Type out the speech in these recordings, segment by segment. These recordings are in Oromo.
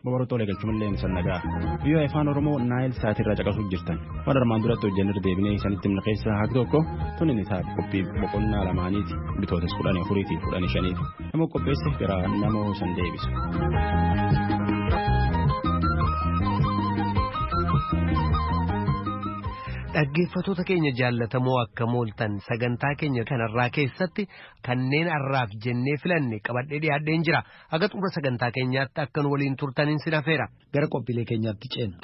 Babarootoolee galchumallee hin sannagaa. Biyya afaan Oromoo Naayil Saatirraa caqasuuf jirtan. Waan armaan duratti hojjannee deebinee isinitti himna keessaa haqa tokko tun inni taate qophii boqonnaa lamaaniiti bitootas kudhan afuriitii kudhan shaniiti. Nama qopheesse gara nama san deebisa. Dhaggeeffattoota keenya jaallatamoo akka mooltan sagantaa keenya kanarraa keessatti kanneen har'aaf jennee filanne qabadhee dhiyaadheen jira. Haga xumura sagantaa keenyaatti akka nu waliin turtaniin sin hafeera. Gara qophiilee keenyaatti ceena.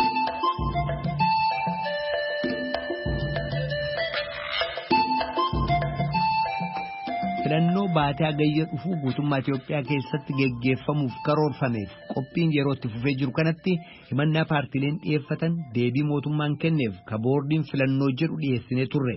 Filannoo baatee hagayya dhufuu guutummaa Itoophiyaa keessatti geggeeffamuuf karoorfameef qophiin yeroo itti fufee jiru kanatti himannaa paartiileen dhiyeeffatan deebii mootummaan kenneef ka boordiin filannoo jedhu dhiyeessinee turre.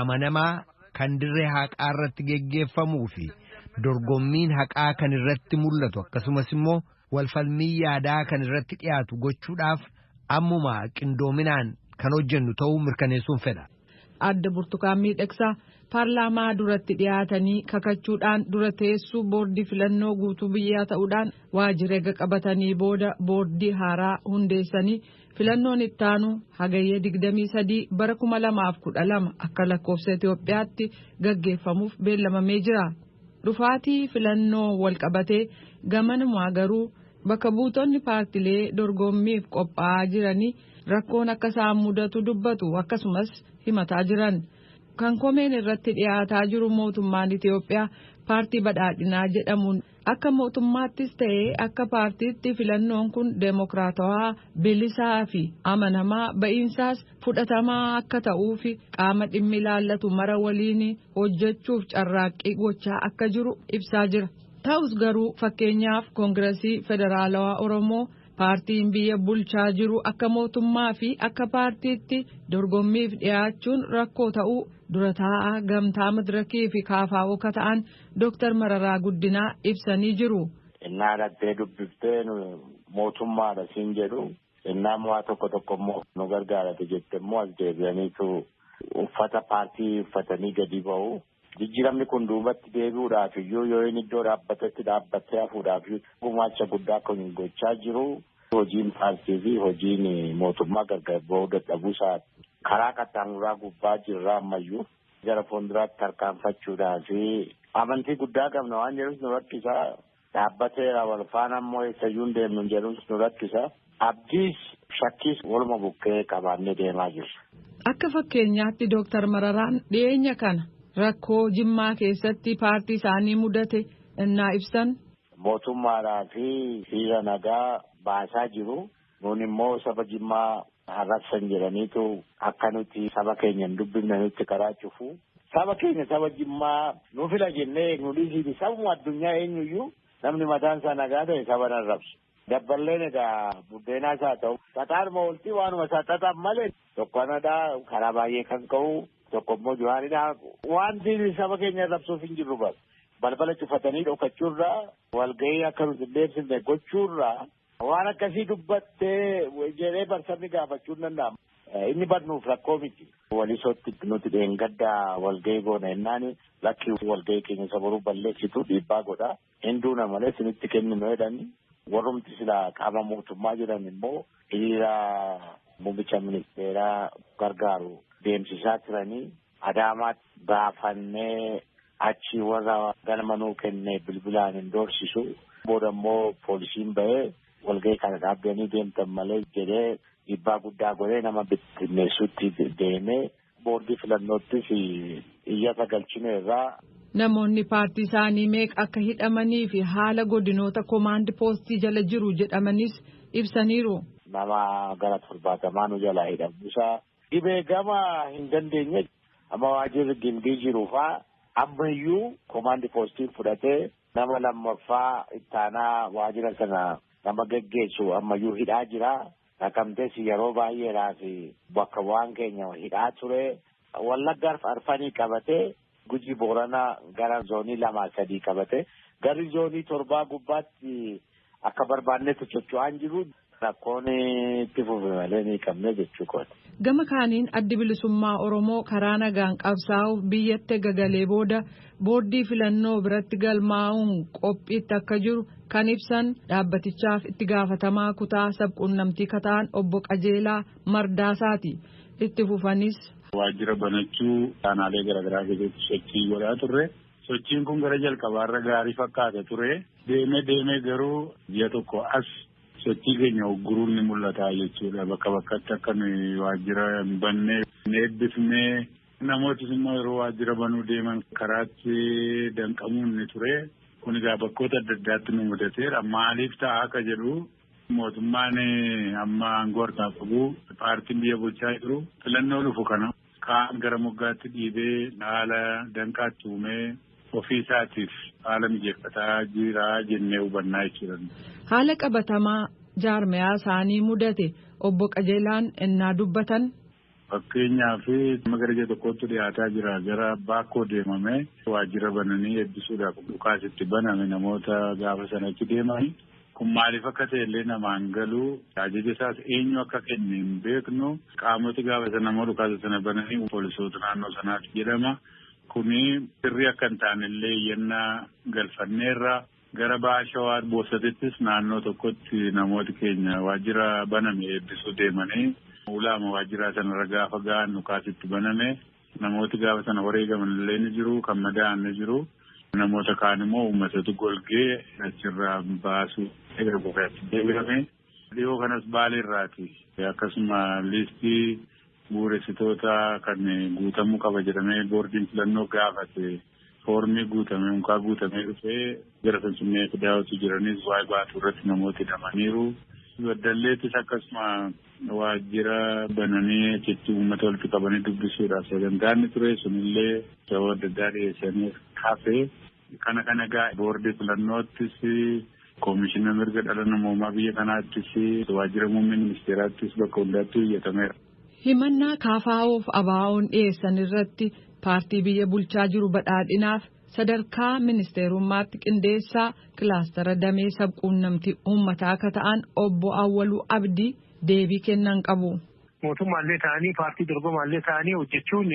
amanamaa kan dirree haqaa irratti geggeeffamuu fi dorgommiin haqaa kan irratti mul'atu akkasumas immoo walfalmii yaadaa kan irratti dhiyaatu gochuudhaaf ammuma qindoominaan kan hojjennu ta'uu mirkaneessuun fedha. Aadde Burtukaan Miidhagsaa paarlaamaa duratti dhiyaatanii kakachuudhaan dura teessuu boordii filannoo guutuu biyyaa ta'uudhaan waajjira eega qabatanii booda boordii haaraa hundeessanii Filannoon ittaanu Hagayya 23 bara 2012 akka lakkoofsa Itoophiyaatti gaggeeffamuuf beellamamee jira. Dhufaatii filannoo walqabatee gamanumaa garuu bakka buutonni paartilee dorgommiif qophaa'aa jiranii rakkoon akka isaan mudatu dubbatu akkasumas himataa jiran. Kan komeen irratti dhiyaataa jiru mootummaan Itoophiyaa paartii badhaadhinaa jedhamuun Akka mootummaattis ta'ee akka paartiitti filannoon kun deemokiraatawaa, bilisaa fi amanamaa ba'iinsaas fudhatamaa akka ta'uufi qaama dhimmi ilaallatu mara waliin hojjechuuf carraaqqii gochaa akka jiru ibsaa jira. Ta'us garuu fakkeenyaaf Koongirasii Federaalawaa Oromoo paartiin biyya bulchaa jiru akka mootummaa fi akka paartiitti dorgommiif dhiyaachuun rakkoo ta'uu dura taa'aa gamtaa madirakii fi kaafaa'oo akka ta'an Dooktar Mararaa Guddinaa ibsanii jiru. Innaa dhattee dubbiftee nu mootummaadha siin jedhu innaa immoo waa tokko tokko immoo nu gargaarate jette immoo as deebi'aniitu uffata paartii uffatanii gadi ba'u. Jijjiiramni kun duubatti deebi'uudhaaf iyyuu yoo inni iddoo dhaabbatetti dhaabbattee hafuudhaaf iyyuu gumaacha guddaa kun gochaa jiru. Hojiin paartii fi hojiin mootummaa gargar ba'uu dadhabuu isaa karaa qaxxaamuraa gubbaa jirra ammayyuu. gara fuulduraatti tarkaanfachuudhaaf amantii guddaa qabna waan jedhus nu rakkisa. Dhaabbateera wal faana immoo eessayyuu hin deemnu jedhus nu rakkisa. Abdiis shakkiis waluma bukkee qabaannee deemaa jirra. Akka fakkeenyaatti Dooktar Mararaan dhiyeenya kana rakkoo Jimmaa keessatti paartii isaanii mudate innaa ibsan. Mootummaadhaa fi hiriira nagaa baasaa jiru. Nuun immoo saba Jimmaa harrabsan jedhaniitu akka nuti saba keenya hin dubbifne nutti karaa cufu. Saba keenya saba Jimmaa nu fila jennee eegnu dhiisiiti sabuma addunyaa eenyuyyuu namni mataan isaa nagaa ta'e saba hin arrabsu. Dabballeen egaa buddeenaa isaa ta'u xaxaanuma oltii waanuma isaa xaxan malee tokko anadhaa karaa baay'ee kan ka'u tokko immoo Johaaridhaa wanti saba keenya arrabsuuf hin jirru bara. balbala cufatanii dhokachuurraa walgahii akka nuti hin deebsifne gochuurraa Waan akkasii dubbattee jedhee barsabni gaafachuu hin danda'amu. Inni barnuuf rakkoo miti. Walisootti nuti dheengaddaa walgahii goona jennaan lakkii walgahii keenya isa boruu balleessitu dhiibbaa godha. Hinduu na malee isinitti kenninu jedhani warrumti silaa qaama mootummaa jedhan immoo hiriira muummicha ministeeraa gargaaru deemsisaa turanii Adaamaatti baafannee achii warra galma nuu kenne bilbilaan hin doorsisu. Booda immoo poolisiin ba'ee walgahii kana dhaabdanii deemtan malee jedhee dhiibbaa guddaa godhee nama bittinneessuutti deemee boordii filannoottis iyyata galchine irraa. Namoonni paartii isaanii meeqa akka hidhamanii fi haala godinoota komaand poostii jala jiru jedhamanis ibsaniiru. Nama gara torbaatamaa nu jalaa hidhamuusaa Dhibee gama hin dandeenye amma waajirri gimbii jiru faa ammayyuu komaandi poostiin fudhatee nama lammaffaa ittaanaa waajira sana nama geggeessu ammayyuu hidhaa jira. Naqamtees yeroo baay'eedhaaf bakka bu'aan keenya hidhaa ture. Wallaggaaf arfanii qabatee Gujii Booranaa gara zoonii lamaa sadii qabate. Garri zoonii torbaa gubbaatti akka barbaannetti socho'aa hin jiru. Rakkoon itti fufe malee ni qabne jechuu kooti. Gama kaaniin addi bilisummaa Oromoo karaa nagaan qabsaa'uuf biyyatti ega galee booda boordii filannoo biratti galmaa'uun qophiitti akka jiru kan ibsan dhaabbatichaaf itti gaafatamaa kutaa sabquunnamtii ka ta'an obbo Qajeelaa Mardaasaati. Itti fufanis. Waajjira banachuu aanaalee garaagaraa keessatti sochii godhaa turre. Sochiin kun gara jalqabaarra gaarii fakkaata ture. Deemee deemee garuu ji'a tokko as sochii keenya ugguruun ni mul'ata jechuudha. Bakka bakkatti akka nuyi waajjira hin banne hin eebbifne. Namootis immoo yeroo waajjira banuu deeman karaatti danqamuun ni ture. Kun egaa bakkoota adda addaatti nu mudateera. Maaliif ta'a akka jedhu Mootummaan amma aangoo harkaa qabu paartiin biyya bulchaa jiru filannoo dhufu kana kaan gara moggaatti dhiibee haala danqaatti uumee ofii isaatiif haala mijeeffataa jira jennee hubannaa jechuudha. Haala qabatamaa jaarmayaa isaanii mudate obbo Qajeelaan ennaa dubbatan. Fakkeenyaaf amma gara ji'a tokkoottu dhiyaataa jira gara Baakkoo deemamee waajjira bananii eebbisuudhaaf dhukaas itti baname namoota gaafa sana achi deeman kun maaliif akka ta'e illee namaan galu ajaja isaas eenyu akka kenne hin beeknu qaamoti gaafa sana immoo dhukaasa sana bananii poolisoota naannoo sanaati jedhama kuni sirrii akka hin taane illee iyyannaa galfanneerra. Gara Baha Shawaa Boosatittis naannoo tokkotti namooti keenya waajjira baname eebbisuu deemanii ulaama waajjiraa sanarra gaafa ga'an dhukaasi itti baname. Namooti gaafa sana wareegaman illee ni jiru, kan madaa'an ni jiru. Namoota kaan immoo uummatatu golgee achirraa baasuu gara Boosaatti deebi'ame. Dhiyoo kanas Baaleerraati. Akkasuma liistii bu'uuressitoota kan guutamuu qaba jedhamee boordiin filannoo gaafate foormii guutamee unkaa guutamee dhufee gara Finfinnee fidaa utuu jiranis waa'ee baatuu irratti namooti hidhamaniiru. Baddalleettis akkasuma waajjira bananii achitti uummata walitti qabanii dubbisuudhaaf sagantaa inni ture sunillee sababa adda addaa dhiyeessanii hafe. Kana kana egaa boordii filannoottis koomishina mirga dhala namoomaa biyya kanaattis waajjira muummee ministeeraattis bakka hundaatti iyyatameera. Himannaa KFOf ABOn dhiyeessan irratti paartii biyya bulchaa jiru Badhaadhinaaf sadarkaa ministeerummaatti qindeessaa kilaastara damee sabquunnamtii uummataa akka ta'an obbo Awwaluu Abdii deebii kennan qabu. Mootummaallee ta'anii paartii dorgomaallee ta'anii hojjechuun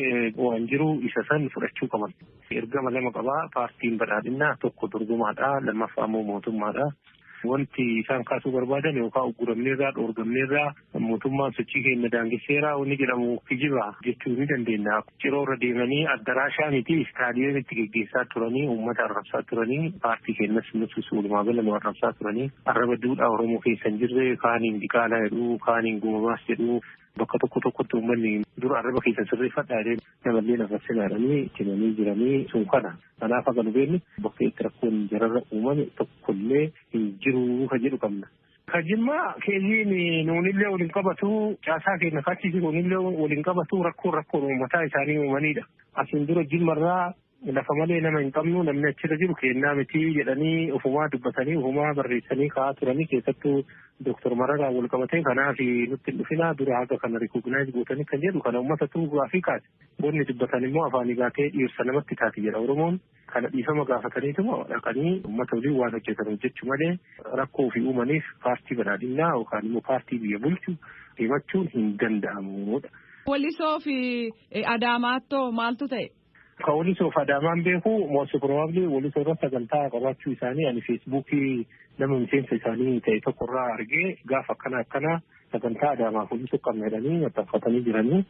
waan jiru isa san fudhachuu qaban. Ergama lama qaba paartiin Badhaadhinaa tokko dorgomaadha lammaffaa immoo mootummaadha. Wanti isaan kaasuu barbaadan yookaan ugguramneerraa dhoorgamneerraa mootummaan sochii keenya daangesseera wanni jedhamu kijiba jechuu ni dandeenya. Ciroo irra deemanii addaraashaa miti istaadiyeemitti geggeessaa turanii uummata arrabsaa turanii paartii keenyas nutis walumaa gala nu arrabsaa turanii arraba duudhaa Oromoo keessa hin jirre kaaniin diqaalaa jedhu kaaniin gumabaas jedhu bakka tokko tokkotti uummanni dur arraba keessan sirreeffadhaa jedhee namallee nafarsinaa jedhanii itti himanii jiranii sun kana kanaaf haga nu beeknu bakka itti rakkoon jararra uumame tokkollee hin jiru kan jedhu qabna. Ka jimmaa keessiin nuunillee waliin qabatu caasaa keenya kaachisi nuunillee waliin qabatu rakkoon rakkoon uummataa isaanii uumanidha. Asiin dura jimmarraa Lafa malee nama hin qabnu namni achirra jiru keennaa miti jedhanii ofumaa dubbatanii ofumaa barreessanii kaa'aa turanii keessattuu Dooktar Mararaan wal qabatee kanaaf nutti hin dhufinaa dura haga kana rikooginaayis gootanii kan jedhu kana uummatatu gaafii kaase. Wanni dubbatan immoo afaanii baatee dhiirsa namatti taati jedha Oromoon. Kana dhiifama gaafataniituma dhaqanii uummata waliin waan hojjetan hojjechuu malee rakkoo ofii uumaniif paartii badhaadhinnaa yookaan immoo paartii biyya bulchu himachuun hin danda'amudha. Walisoo fi Adaamaattoo maaltu ta'e? Ka Walisoo fi Adaamaan beeku most probably Walisoo irra sagantaa qabaachuu isaanii ani feesbuukii nama miseensa isaanii ta'e tokko irraa argee gaafa akkana akkana sagantaa Adaamaa fi Walisoo qabna jedhanii maxxanfatanii jiranii.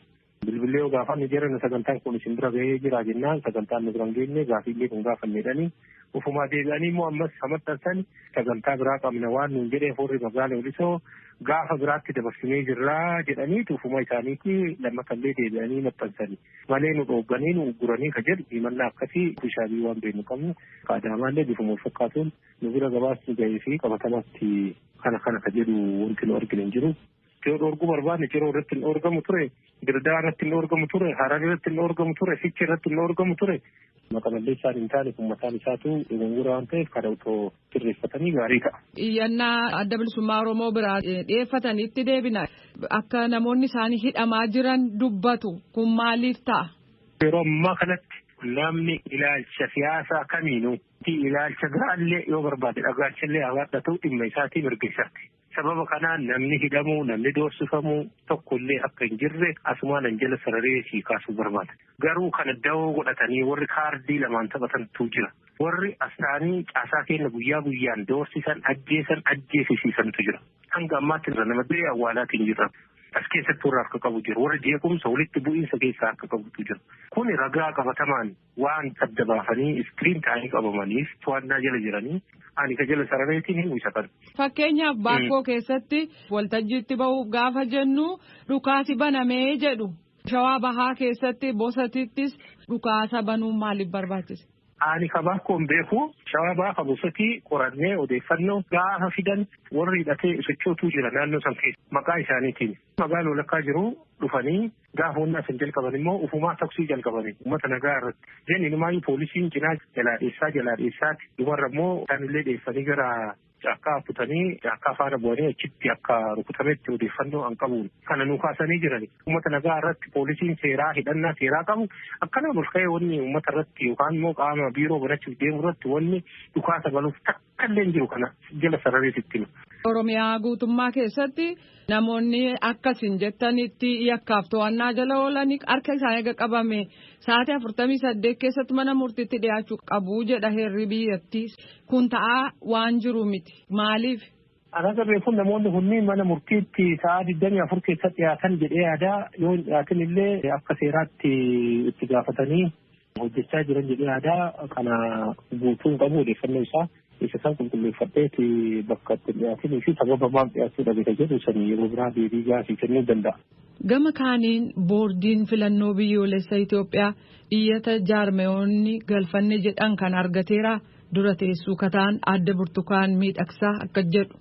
Bilbilee yoo gaafanne jedhan sagantaan kun isin bira gahee jira jennaan sagantaan nu bira hin geenye gaafiillee kun gaafanne jedhanii Ufumaa deebi'anii immoo ammas ha maxxansan sagantaa biraa qabna waan nuun jedheef warri magaala Walisoo gaafa biraatti dabarsinee jirraa jedhanii ufuma isaaniitti lammatallee deebi'anii maxxansani. Malee nu dhoogganii nu ugguranii ka jedhu himannaa akkasii ofishaalii waan beeknu qabnu ka Adaamaallee bifuma wal fakkaatuun nu bira gabaasni ga'ee fi qabatamaatti kana kana ka jedhu wanti nu argine hin jiru. yoo dhoorguu barbaadne ciroo irratti hin dhoorgamu ture dirdaa irratti hin dhoorgamu ture harar irratti hin dhoorgamu ture fichi irratti hin dhoorgamu ture maqa balleessaan hin taane kun mataan isaatu dogongora waan ta'eef kana otoo sirreeffatanii gaarii ta'a. Iyyannaa adda bilisummaa Oromoo biraa dhiyeeffatanitti deebina akka namoonni isaanii hidhamaa jiran dubbatu kun maaliif ta'a? Yeroo ammaa kanatti namni ilaalcha siyaasaa kamiinuu ilaalcha biraallee yoo barbaade dhagaachallee hawaadhatu dhimma isaatii mirga isaati. Sababa kanaan namni hidhamuu, namni doorsifamuu tokko illee akka hin jirre asumaan an jala sararee sii kaasuu barbaada. Garuu kana dawoo godhatanii warri kaardii lamaan taphatantu jira. Warri astaanii caasaa keenya guyyaa guyyaan doorsisan, ajjeesan, ajjeesisiisantu jira. Hanga ammaatti nama du'ee awwaalaatii hin jirra. As keessatti warra harka qabu jira. Warra jeequmsa walitti bu'iinsa keessaa harka qabutu jira. Kuni ragaa qabatamaan. waan adda baafanii iskiriin taa'anii qabamaniif to'annaa jala jiranii ani ka jala sarareetiin himu isa kana. Fakkeenyaaf baakkoo keessatti waltajjiitti bahuuf gaafa jennu dhukaasi banamee jedhu shawaa bahaa keessatti bosatittis dhukaasa banuun maaliif barbaachise? Ani ka baakkoon beeku shawaa bahaa ka bosatii qorannee odeeffannoo gaafa fidan warri hidhatee sochootuu jira naannoo san keessa maqaa isaaniitiin magaaloo lakkaa jiru dhufanii Gaafa wannaa san jalqaban immoo ufumaa toksii jalqabani ummata nagaa irratti. Then inumaayyuu poolisiin cinaa jalaa dheessaa jalaa dheessaati dhumarra immoo isaanillee dheessanii gara caakkaa kutanii caakkaa faana bu'anii achitti akka rukutametti odeeffannoo an qabuun kana nu kaasanii jirani. Ummata nagaa irratti poolisiin seeraa hidhannaa seeraa qabu akkanaan ol ka'ee wanni ummata irratti yookaan immoo qaama biiroo banachuuf deemu irratti wanni dhukaasa banuuf ta'a. Kanneen jiru kana jala sararee sitti hima. Oromiyaa guutummaa keessatti namoonni akka isin jettanitti yakkaaf to'annaa jala oolan harka isaanii eega qabame sa'aatii afurtamii saddeet keessatti mana murtiitti dhiyaachuu qabu jedha heerri biyyattii kun ta'aa waan jiru miti maaliif. Alaga beekuun namoonni kunniin mana murtiitti sa'aa digdamii afur keessatti dhiyaatan jedhee yaadaa yoo hin dhiyaatin illee akka seeraatti itti gaafatanii hojjechaa jiran jedhee aadaa kana guutuu hin qabu odeeffannoo isaa isa san qulqulleeffadheeti bakka itti dhiyaatinii fi sababa maaf dhiyaachuu dhabeta jedhu san yeroo biraa deebii gaafii kennuu danda'a. Gama kaaniin boordiin filannoo biyyoolessa Itoophiyaa iyyata jaarmayoonni galfanne jedhan kan argateera dura teessuu kataan adda burtukaan miidhagsaa akka jedhu.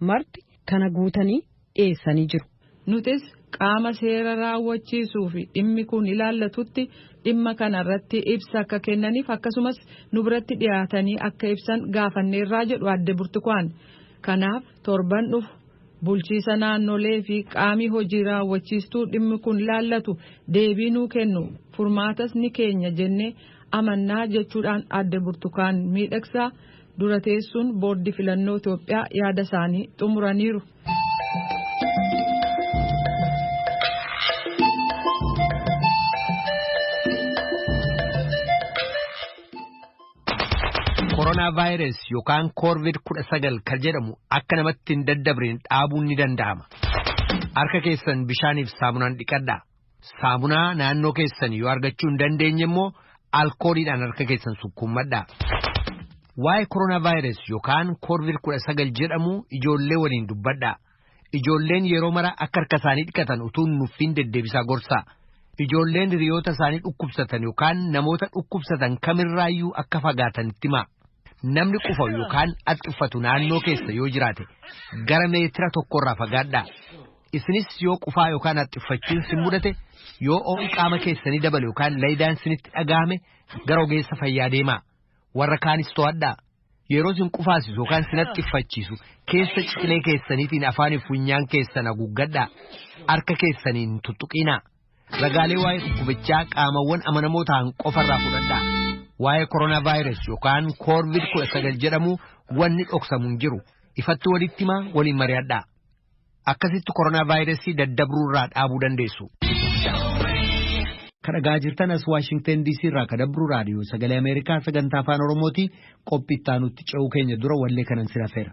marti kana guutanii dhiyeessanii jiru. Nutis qaama seera raawwachiisuu fi dhimmi kun ilaallatutti dhimma kana irratti ibsa akka kennaniif akkasumas nu biratti dhiyaatanii akka ibsan gaafanneerraa jedhu Aadde Burtukaan. Kanaaf torban dhufu bulchiisa naannolee fi qaamii hojii raawwachiistuu dhimmi kun ilaallatu deebii nuu kennu furmaatas ni keenya jennee amannaa jechuudhaan Aadde Burtukaan Miidhagsaa Dura teessuun boordii filannoo Itoophiyaa yaada isaanii xumuraniiru. Koronaa vaayirus yookaan koorvid kudha sagal kan jedhamu akka namatti hin daddabreen dhaabuun ni danda'ama. Harka keessan bishaaniif saamunaan dhiqadhaa. Saamunaa naannoo keessan yoo argachuu hin dandeenye immoo alkooliidhaan harka keessan sukkuummadhaa. Waa'ee koronaavaayirus yookaan koorvid 19 jedhamu ijoollee waliin dubbadhaa. Ijoolleen yeroo mara akka harka isaanii dhiqatan utuu hin nuffiin deddeebisaa gorsaa. Ijoolleen hiriyoota isaanii dhukkubsatan yookaan namoota dhukkubsatan kamirraayyuu akka fagaatan itti himaa. Namni qufa'u yookaan haxxiffatu naannoo keessa yoo jiraate gara meetira tokkorraa fagaadhaa. Isinis yoo qufaa yookaan haxxiffachiin sin mudate yoo oo'i qaama keessanii dabale yookaan laydaan sinitti dhagahame gara ogeessa fayyaa deemaa. Warra kaanis to'adhaa. Yeroo sin qufaasisu yookaan sin haxxiffachiisu keessa ciqilee keessaniitiin afaanii fi funyaan keessan haguuggadhaa. Harka keessaniin hin tuttuqiinaa. Ragaalee waa'ee dhukkubichaa qaamawwan amanamoo ta'an qofarraa fudhadhaa. Waa'ee koronaa vaayirasii yookaan koorvid kudha sagal jedhamu wanni dhoksamu hin jiru. Ifatti walitti himaa waliin mari'adhaa. Akkasitti koronaavaayirasii daddabruurraa dhaabuu dandeessu. Kadhagaa jirtan as Waashingtan DC irraa kadabru raadiyoo sagalee Ameerikaa sagantaa afaan Oromooti qophii itti aanutti ce'uu keenya dura wallee kanan sin hafeera.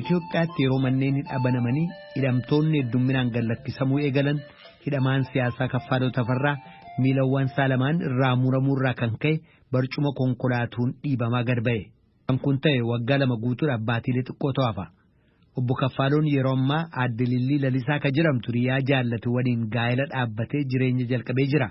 Itoophiyaatti yeroo manneen hidhaa banamanii hidhamtoonni heddumminaan gad lakkisamuu eegalan hidhamaan siyaasaa Kaffaaloo Tafarraa miilawwan isaa lamaan irraa muramuu irraa kan ka'e barcuma konkolaatuun dhiibamaa gad ba'e. Kan kun ta'e waggaa lama guutuudhaaf baatiilee xiqqootu hafa. Obbo Kaffaaloon yeroo ammaa aadde Lillii Lalisaa kan jedhamtu riyaa jaallate waliin gaa'ela dhaabbatee jireenya jalqabee jira.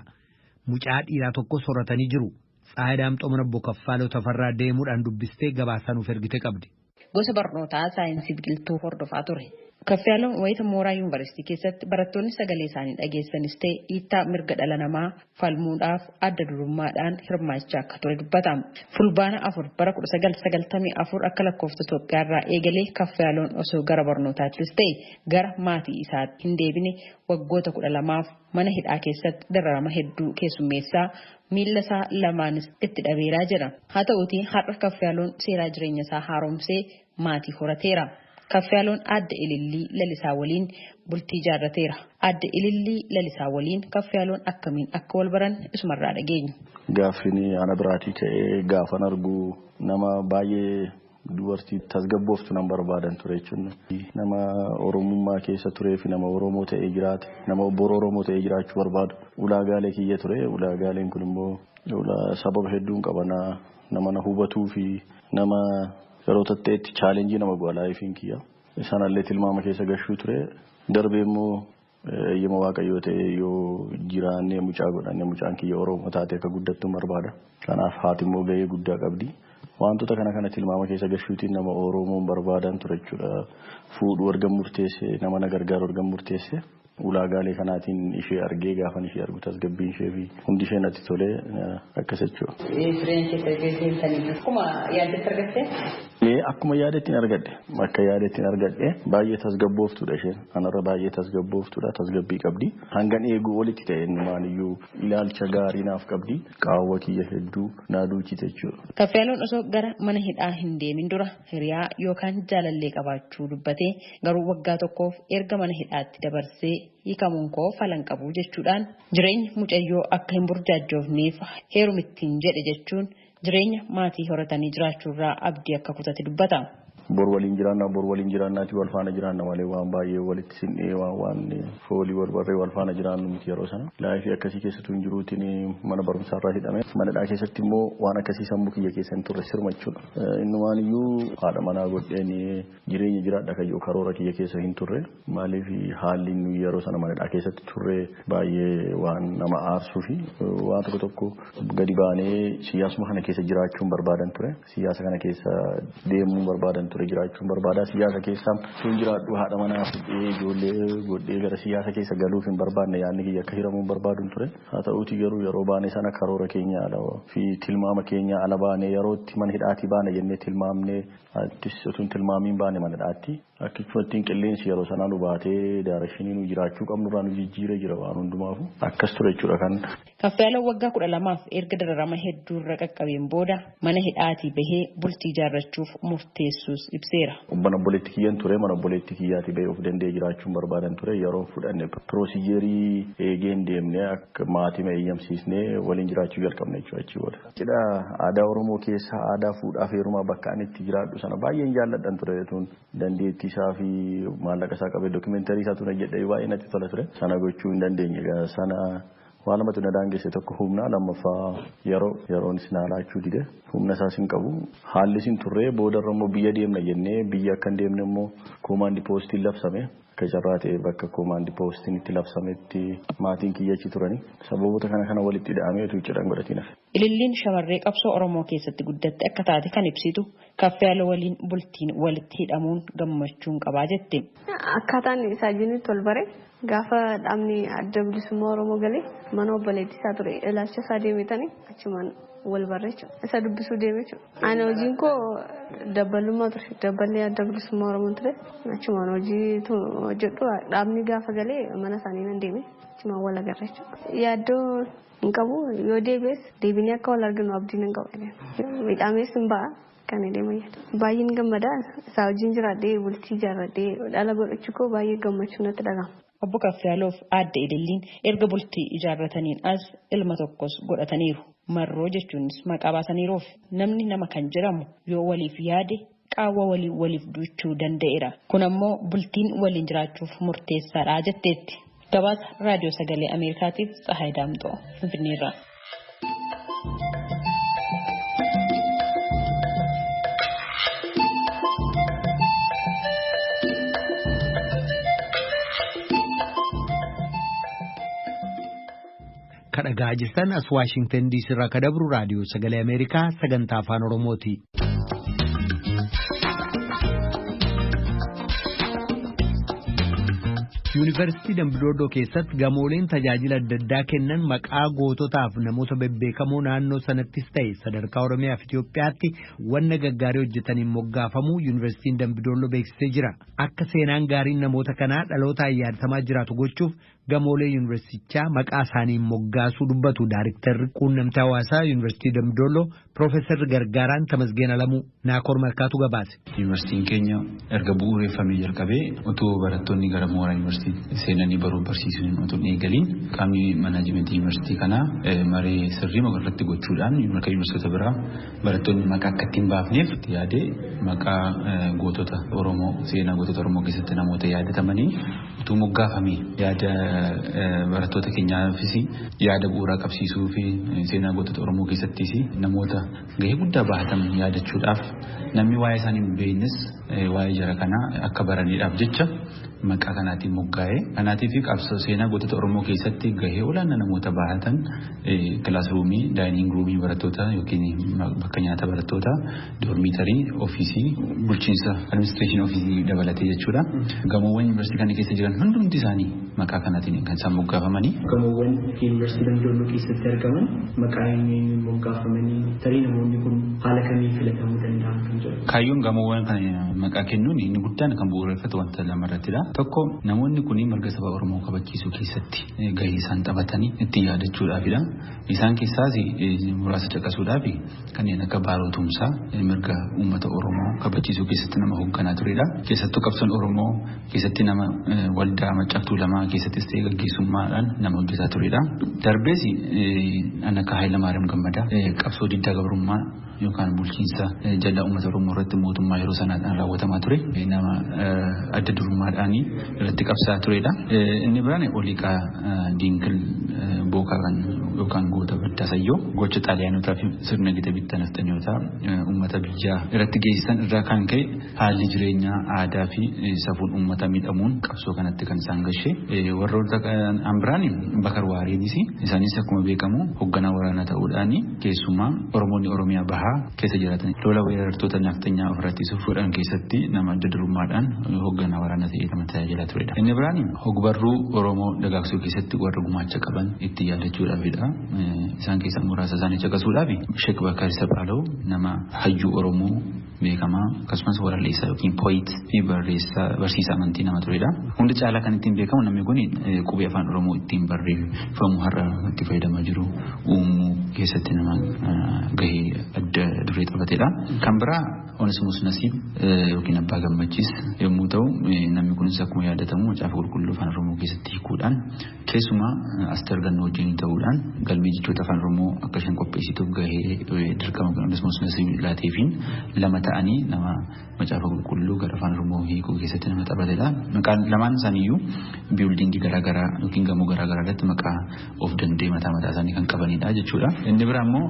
Mucaa dhiiraa tokkos horatanii jiru. Tsaayidaamxoo mana obbo Kaffaaloo Tafarraa deemuudhaan dubbistee gabaasaa nuuf ergite qabdi. Gosa barnootaa saayinsii biqiltuu hordofaa ture. Kaffiyaalom wayita mooraa yuunivarsiitii keessatti barattoonni sagalee isaanii dhageessisanis ta'e dhiittaa mirga dhala namaa falmuudhaaf adda durummaadhaan hirmaachaa akka ture dubbata. Fulbaana 4 bara 1994 akka lakkoofsa Itoophiyaarraa eegalee Kaffiyaaloon osoo gara barnootaattis ta'e gara maatii isaatti hin deebine waggoota 12f Mana hidhaa keessatti dararama hedduu keessummeessaa miillasaa lamaanis itti dhabeeraa jedha. Haa ta'uutii har'a Kafyaaloon seeraa jireenyasaa haaromsee maatii horateera. Kafyaaloon Aadde Ilillii Lalisaa waliin bultii ijaarrateera. Aadde Ilillii Lalisaa waliin Kafyaaloon akkamiin akka walbaran isumarraa dhageenya. Gaaffiin ana biraatii ka'ee gaafan argu nama baay'ee Dubartii tasgabbooftu nan barbaadan ture jechuun nama Oromummaa keessa turee fi nama Oromoo ta'ee jiraate, nama bor Oromoo ta'ee jiraachuu barbaadu ulaagaalee kiyya ture. Ulaagaaleen kun immoo sababa hedduun qaba. Nama na hubatuu fi nama yeroo tatta'etti challenge nama godha life kiyya. Sanallee tilmaama keessa gashuu ture. Darbee immoo Eeyyama Waaqayyoo ta'ee yoo jiraannee mucaa godhanne mucaan kiyya Oromoo taatee akka guddattu barbaada. Kanaaf haati immoo gahee guddaa qabdi. Waantota kana kana tilmaama keessa gashuutiin nama Oromoon barbaadaan ture jechuudha. Fuudhuu ergan murteessee nama na gargaaru ergan murteessee ulaagaalee kanaatiin ishee argee gaafan ishee argu tasgabbiin ishee fi hundi ishee natti tolee akkas jechuudha. Jireenya kee tasgabbeessanii akkuma yaaddetti argattee? Ee akkuma yaadettin argadhe. Akka yaadettin argadhe. Baay'ee tasgabbooftuudha isheen. Anarra baay'ee tasgabbooftuudha. Tasgabbii qabdi. Hangan eeguu olitti ta'e innumaaniyyuu ilaalcha gaarii naaf qabdi. Qaawwa kiyya hedduu naa duuchite jechuudha. Kafyaaloon osoo gara mana hidhaa hin deemin dura hiriyaa yookaan jaalallee qabaachuu dubbatee garuu waggaa tokkoof erga mana hidhaatti dabarsee hiikamuun koo fala hin qabu jechuudhaan jireenyi mucayyoo akka hin burjaajjoofneef heerumittiin jedhe jechuun jireenya maatii horatanii jiraachuurraa abdii akka kutate dubbata. Bor waliin jiraanna, bor waliin jiraannaatii wal faana jiraanna malee waan baay'ee walitti sinnee waan waan foolii wal barree wal faana jiraannu miti yeroo sana. Laayifii akkasii keessattuu hin jiruutiin mana barumsaarraa hidhame. Manadhaa keessatti immoo waan akkasii sammuu kiyya keessa hin turre sirma jechuudha. Innumaan iyyuu haadha manaa godheen jireenya jiraadha kan jedhu karoora kiyya keessa hin turre. Maaliif haalli nuyi yeroo sana mana hidhaa keessatti turre baay'ee waan nama aarsuu fi waan tokko tokko gadi baanee siyaasuma kana keessa jiraachuun barbaadan ture. Siyaasa kana keessa deemuun barbaadan ture jiraachuun barbaadaa siyaasa keessa sun jiraadhu haadha manaa fudhee ijoollee godhee gara siyaasa keessa galuuf hin barbaadne yaadni kiyya akka hiramuun barbaadun ture. Haa ta'uuti garuu yeroo baanee sana karoora keenya ala fi tilmaama keenya ala baanee yerootti mana hidhaatii baana jennee tilmaamnee attis utuun tilmaamiin baane mana hidhaatti. Akki cufattiin qilleensi yeroo sanaa nu baatee daarekshinii nu jiraachuu qabnu irraa nu jijjiiree jira waan hundumaafu akkas ture jechuudha kan. Kaffayaaloo waggaa kudha lamaaf erga dararama hedduu irra qaqqabeen booda mana hidhaatii bahee bultii ijaarrachuuf murteessuus ibseera. Mana obboleetti kiyyan ture mana obboleetti kiyyaatii bahee of danda'ee jiraachuun barbaadan ture yeroon fudhanne piroosijeerii eegeen deemnee akka maatima eeyyamsiisnee waliin jiraachuu jalqabne jechuudha achii booda. Cidha aadaa Oromoo keessa aadaa fuudhaaf heerumaa bakka ani itti jiraadhu sana baay'een jaalladhan ture utuun dandeettii isaa fi maallaqa isaa qabee documentary isaa tun hojjedhe baay'ee natti tola ture sana gochuu hin dandeenye egaa sana waan lamatu na daangesse tokko humnaa lammaffaa yeroo yeroon isin haalaachuu dide humna isaas hin qabu haalli isin turree boodarra immoo biyya deemna jennee biyya akka hin deemne immoo koomaandi poostiin labsame Akka carraa ta'ee bakka koomaandi poostiin itti labsametti maatiin kiyya achi turani. Sababoota kana kana walitti ida'amee utuu cidha hin godhatiin hafe. Ililliin shamarree qabsoo Oromoo keessatti guddatte akka taate kan ibsitu Kaffeyaloo waliin bultiin walitti hidhamuun gammachuun qabaa jetti. Akkaataan isaa jiru nutti ol bare. Gaafa dhaabni Adda Bilisummaa Oromoo gale mana obboleettii isaa ture ilaalcha isaa deemetani achumaan wal barre jechuudha. Isa dubbisuu deeme jechuudha. Ani hojiin koo dabbalummaa ture. Dabballi adda bilisummaa Oromoo ture. Achumaan hojii hojjedhu dhaabni gaafa galee mana isaanii nan deeme. Achumaan wal agarra jechuudha. Yaaddoo hin qabu yoo deebi'es deebinee akka wal arginu abdii nan qaba. Midhaamees hin ba'a. Kan deema yaada. Baay'een gammada isaa wajjin jiraadhee bultii ijaarradhee dhala godhachuu koo baay'ee gammachuu natti dhaga'ama. Obbo Kafyaaloof aadde Ililliin erga bultii ijaarrataniin as ilma tokkos godhataniiru. Marroo jechuunis maqaa baasaniiruuf. Namni nama kan jedhamu yoo waliif yaade qaawwa walii waliif duuchuu danda'eera. Kun ammoo bultiin waliin jiraachuuf murteessaadha jetteetti. Gabaasa Raadiyoo Sagalee Ameerikaatiif Tsahaay Daamxoo Finfinneerraa. kadhagaa jirtan as waashingtan diisii irraa kadabru raadiyoo sagalee ameerikaa sagantaa afaan oromooti. Yuunivarsiitii Dambidoodoo keessatti gamooleen tajaajila adda addaa kennan maqaa goototaaf namoota bebbeekamoo naannoo sanattis ta'e sadarkaa Oromiyaaf Itoophiyaatti wanna gaggaarii hojjetaniin moggaafamuu Yuunivarsiitiin Dambidoodoo beeksisee jira. Akka seenaan gaariin namoota kanaa dhalootaan yaadatamaa jiraatu gochuuf Gamoolee Yuunivarsiitichaa maqaa isaaniin moggaasuu dubbatu Daariktarri Quunnamtii Hawaasaa Yuunivarsiitii Dambidolloo Piroofeesarri Gargaaraan Tamasgeen Alamuu. Naakoor Malkaatu gabaase. Yuunivarsiitiin keenya erga bu'uureffamee jalqabee utuu barattoonni gara mooraa yuunivarsiitii seenanii baruuf barsiisuu hin utuu hin eegaliin qaamni manaajimentii yuunivarsiitii kanaa maree sirrii irratti gochuudhaan akka yuunivarsiitota biraa barattoonni maqaa akka ittiin baafneef itti yaadee maqaa gootota Oromoo seenaa gootota Oromoo keessatti namoota yaadatamanii utuu moggaafame yaada barattoota keenyaafis yaada bu'uuraa qabsiisuu fi seenaa gootota Oromoo keessattis namoota gahee guddaa bahatan yaadachuudhaaf namni waa'ee isaanii hin beeknes waa'ee jara kanaa akka baraniidhaaf jecha maqaa kanaatiin moggaa'e. Kanaatiif qabsoo seenaa gootota Oromoo keessatti gahee olaanaa namoota bahatan kilaasruumii daayiniing ruumii barattoota yookiin bakka nyaata barattoota Doormiitarii, ofiisii, bulchiinsa administreeshinii ofiisii dabalatee jechuudha. Gamoowwan yuunivarsiitii kana keessa jiran hundumti isaanii maqaa kanaatiin kan isaan moggaafamanii. Gamoowwan yuunivarsiitii Dambidolloo keessatti argaman maqaa eenyu eenyuun moggaafamanii? Tarii namoonni kun haala kamiin filatamuu danda'an kan jedhu. Kaayyoon gamoowwan kana maqaa kennuun inni guddaan kan bu'uureffatu wanta lama irrattidha. Tokko namoonni kun mirga saba Oromoo kabachiisuu keessatti gahee isaan taphatan ittiin yaadachuudhaafidha. Isaan keessaas muraasa caqasuudhaaf kanneen akka Baaroo Tumsaa mirga uummata Oromoo kabachiisuu keessatti nama hoogganaa turedha. Keessattuu qabsoon Oromoo keessatti nama waldaa Maccaa fi Tuulamaa keessattis ta'ee gaggeessummaadhaan nama hojjetaa turedha. Darbees kan akka Haayilamaariyaam Gammadaa qabsoo diddaa gabrummaa yookaan bulchiinsa jal'aa uummata Oromoo irratti mootummaa yeroo sanaadhaan raawwatamaa ture nama adda durummaadhaan irratti qabsaa'aa turedha. Inni biraan Oliiqaa Diinkil Bookaaran yookaan goota baddaa sayyoo gocha xaaliyaanotaa fi sirna gita bittaa nafxanyootaa uummata biyyaa irratti geessisan irraa kan ka'e Haalli jireenyaa, aadaafi safuun uummataa miidhamuun qabsoo kanatti kan isaan gashe warroota kan biraan Bakar Waariinis isaanis akkuma beekamu hogganaa waraanaa ta'uudhaan keessumaa Oromoonni Oromiyaa Bahaa keessa jiraatan lola weerartoota nafxanyaa ofirraa ittisuuf godhan keessatti nama adda durummaadhaan hogganaa waraanaa ta'ee nama tajaajilaa turedha. Inni biraan hogbarruu Oromoo dagaagsuu keessatti warra gumaacha qaban itti yaadachuudhaafidha. Isaan keessaa muraasa isaanii caqasuudhaaf Sheek Bakar Saphaalaw nama hayyuu Oromoo beekamaa akkasumas waralleessaa yookiin pooyit fi barreessaa barsiisaa amantii nama turedha. Hunda caalaa kan ittiin beekamu namni kun qubee afaan Oromoo ittiin barreeffamu har'a itti fayyadamaa jiru uumuu keessatti nama gahee adda duree taphatedha. Kan biraa Onesimus Nasiib yookiin Abbaa Gammachiis yommuu ta'u namni kunis akkuma yaadatamu macaafa qulqulluu afaan Oromoo keessatti hiikuudhaan Keessumaa Asteer Gannoo wajjin ta'uudhaan galmee jechoota Afaan Oromoo akka isheen qopheessituuf gahee dirqama akkasumas nasiib laateefiin lama ta'anii nama macaafa qulqulluu gara Afaan Oromoo hiikuu keessatti nama taphatedha. Maqaan lamaan isaaniiyyuu biildingii garaagaraa yookiin gamoo garaagaraa irratti maqaa of danda'e mataa mataa isaanii kan qabanidha jechuudha. Inni biraa immoo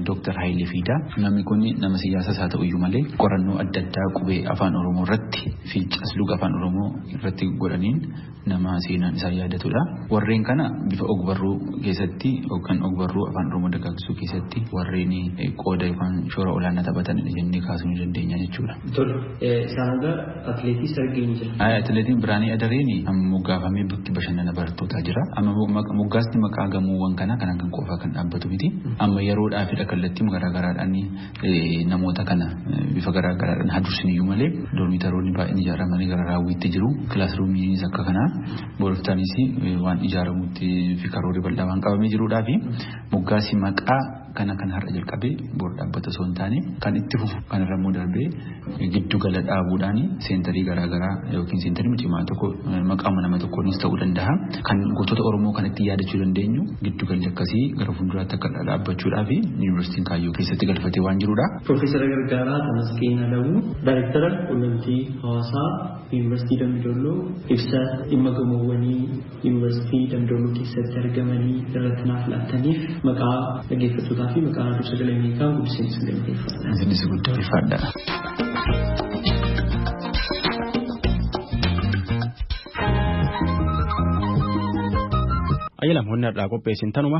Dooktar Hayilee Fiidaa. Namni kun nama siyaasas haa ta'uyyuu malee qorannoo adda addaa qubee Afaan Oromoo irratti fi casluga Afaan Oromoo irratti godhaniin nama seenaan isaa yaadatudha. Warreen kana bifa ogbarruu keessatti yookaan ogbarruu afaan Oromoo dagaagsuu keessatti warreen qooda yookaan shoora olaanaa taphatanidha jennee kaasuu ni dandeenya jechuudha. Tole, isaan hanga atileetii sargee ni jira. Atileetiin Biraanii Adareen moggaafamee bakki bashannana barattootaa jira. Amma moggaasni maqaa gamoowwan kanaa kanaan kan qofaa kan dhaabbatu miti. Amma yeroodhaafidha kallattii garaagaraadhaan Namoota kana bifa garaa garaadhaan haa dursiniyyuu malee doormiitaroonni baay'een ijaaramanii gara raawwiitti jiru. Kilaasruumiinis akka kanaa boloftaanis waan ijaaramutti fi karoorri bal'aa waan qabamee jiruudhaa fi moggaasi maqaa kana kan har'a jalqabee bor dhaabbata osoo hin taane kan itti fufu kanarra immoo darbee giddu gala dhaabuudhaan seentarii garaa garaa yookiin seentarii cimaa tokko maqaama nama tokkoonis ta'uu danda'a. Kan gootota Oromoo kan ittiin yaadachuu dandeenyu giddu galli akkasii gara fuulduraatti akka dhaabbachuudhaa fi yuunivarsiitiin kaayyoo keessatti galfatee waan jirudha. Piroofeesara Gargaaraa Tamasgeen Alamuu Daayirektara Quunnamtii Hawaasaa Yuunivarsiitii Dambi Dolloo ibsa dhimma gamoowwanii Yuunivarsiitii Damdolloo keessatti argamanii irratti naaf laattaniif maqaa dhaggeeffattootaa fi maqaa Raadiyoo Sagalee Ameerikaa guddiseen isin galateeffadha. Isinis guddaa ulfaadha. Ayyalam honna irraa qopheessin tanuma